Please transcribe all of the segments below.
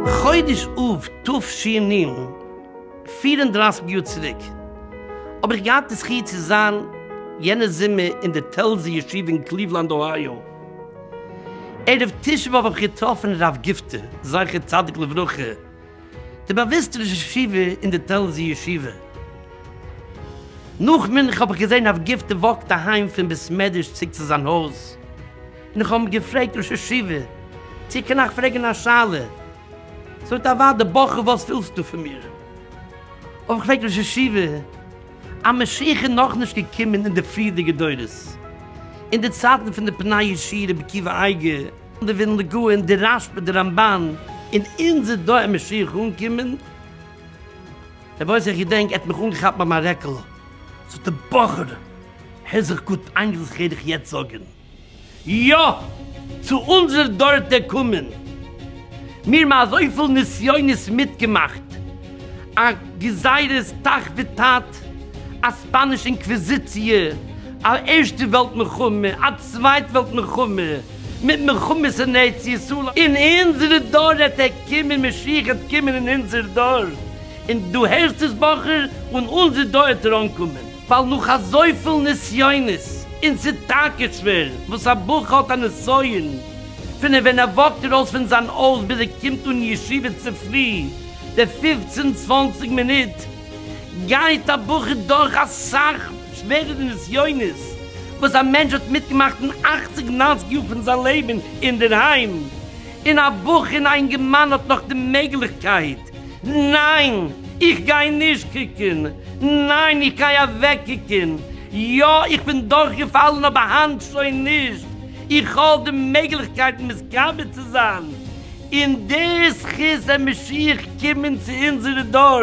חודש אב תשי נ, פֿיר און דרײַסיק יאר צוריק, האב איך געהאט די זכי' צו זיין יענע זומער אין די טעלזער ישיבה אין קליוולאנד אוהייאו. ערב תשעה באב האב איך געטראפן הרב גופטער זכר צדיק לברכה, די באוויסטע ראש ישיבה אין די טעלזי ישיבה. נאך מנחה האב איך געזען הרב גפטי וואקט אהיים פון בית מדרש צוריק צו זיין הויז, און איך האב אים געפרעגט ראש ישיבה צו קען איך פרעגן א שאלה? זאגט ער אוודאי בחור וואס ווילסטו פון מיר? האב איך געפרעגט ראש ישיבה א משיח איז נאכנישט געקומען אין די פריערדיגע דורות אין די צייטן פון די פני ישיר רבי עקיבא אייגער, די ווילנע גאון, די רש ב, די רמבן, און אונזער דור אין משיח אנקומען. רבי יוסי איך געדענק ער האט מיך אנגעכאפט ביי מיין רעקעלע, זאגט ער בחור הער זיך גוט איין וואס איך וועל דיך יעצט זאגען, יא! צו אונזער דור העט ער קומען! מיר האבן אזויפיל נסיונות מיטגעמאכט, א גזירת תח ותט, א ספאניש אינקוויזיציע, א ערשטע וועלט מלחמה, א צווייט וועלט מלחמה, מיט מלחמות אין ארץ ישראל, אין אונזערע דור העט ער קומען, משיח העט קומען אין אונזער דור, און דו הערסט עס בחור, און אונזער דור העט ער אנקומען. ווייל נאך אזויפיל נסיונות, און ס'איז טאקע שווער, וואס א בחור האט א נסיון, פון ווען ער וואקט ארויס פון זיין הויז ביז ער קומט אן אין ישיבה צופרי, די פופצן צוואנציג מינוט, גייט א בחור דורך אסאך שווערערע נסיונות וואס א מענטש האט מיטגעמאכט אין אכציג ניינציג יאר פון זיין לעבן אינדערהיים, און א בחור און א אינגערמאן האט נאך די מעגליכקייט, ניין! איך גיי נישט קוקען! ניין! איך גיי אוועק קוקען! יא! איך בין דורך געפאלען אבער היינט שוין נישט! איך האב די מעגליכקייט מתגבר צו זיין! און די זכות המשיח קומען צו אונזערע דור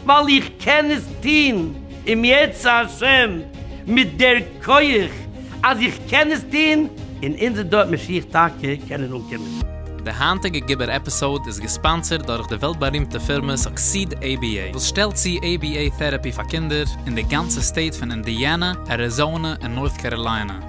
ווייל איך קען עס טוהן אם ירצה השם מיט דער כח אז איך קען עס טוהן און אונזער דור האט משיח טאקע קענען אנקומען. די היינטיגע געבער עפיסאוד איז געספאנסערד דורך די וועלט בארימטע פירמע סוקסיד עי בי עי וואס שטעלט צו עי בי עי טעראפי פאר קינדער אין די גאנצע סטעיט פון אינדיאנא, אריזאנע און נארט קעראליינע.